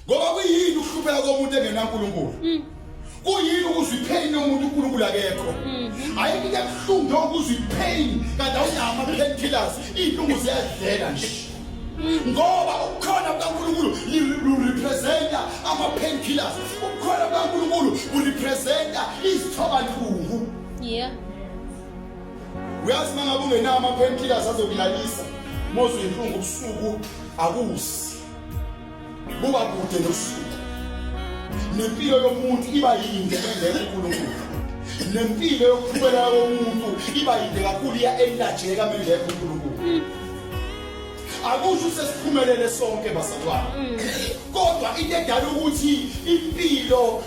ngoba kuyini ukuhlupheka komuntu engenankulunkulu mm. kuyini ukuzwa ipheyini yomuntu unkulunkulu akekho mm-hmm. ayikho into ebuhlungu njengokuzwa ipheyini kanti awunama pain killers iy'lungu ziyadlela nje mm. ngoba ukukhona kukankulunkulu lurepresenta ama-pain killers ukukhona kukankulunkulu kurepresenta izithobantungu uyazi uma ngabe ungenawo ama-pain killers azokulalisa mozwe inhlungu ubusuku akusi buka kude nosuku nempilo yomuntu iba yinde engeke uNkulunkulu nempilo yokuphumela komuntu iba yinde kakhulu iya enilajeka mengeke uNkulunkulu akusho sesiphumelele sonke bazalwane kodwa into edala ukuthi impilo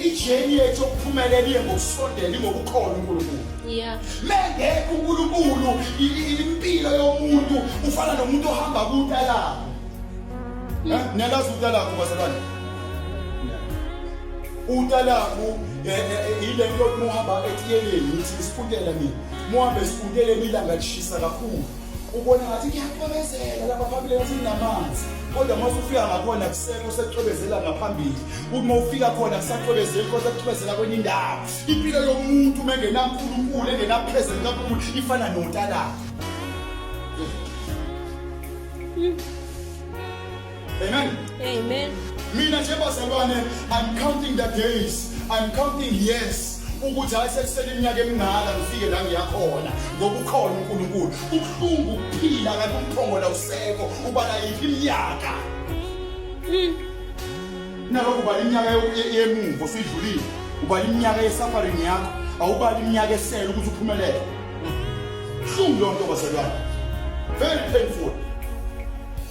ijeni yethu yokuphumelela iye ngokusondela ingokukholwa uNkulunkulu Yeah. Mengekho uNkulunkulu impilo yomuntu ufana nomuntu ohamba kutalako. Eh, niyalazi utalako bazalwane? Utalako eh, eh, ile nto muhamba etiyeleni ngithi isifundela mina. Muhambe sifundele ilanga lishisa kakhulu. Ubona ngathi kuyaqhubezela lapha phambili ngathi namanzi. kodwa uma usufika ngakhona kuseka usecwebezela ngaphambili uma ufika khona kusacwebezeli kodwa kucwebezela kwenye indawo impilo yomuntu uma engenankulunkulu engenaphezulu kakhulu ifana nontalaka amen amen mina nje bazalwane i'm counting the days i'm counting years ukuthi hayi sekusele iminyaka emingaka ngifike la ngiyakhona ngoba ukhona uNkulunkulu ubuhlungu ukuphila kanti umphongola usekho ubala yiphi iminyaka hmm. Nalokho ubala iminyaka yemuva osuyidlulile, ubala iminyaka yesafarini yakho, awubala iminyaka esele ukuthi uphumelele. Hlungu leyo nto bazalwane. Very painful.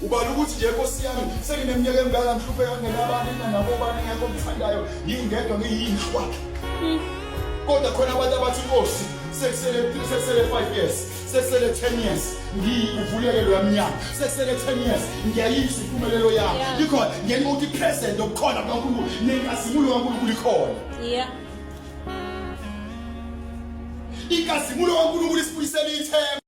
ubala ukuthi nje nkosi yami sengineminyaka emingaka ngihlupheka ngenabani nanabobani ngekho ngithandayo ngingedwa ngiyinhlwa kodwa khona abantu abathi inkosi sekusele sekusele 5 years sesele 10 years ngiyivuleke lo yamnyama sesele 10 years ngiyayizwa impumelelo yami likhona ngenxa ukuthi present okukhona kaNkulunkulu nenkazimulo kaNkulunkulu ikhona yeah inkazimulo kaNkulunkulu isibuyisela ithemba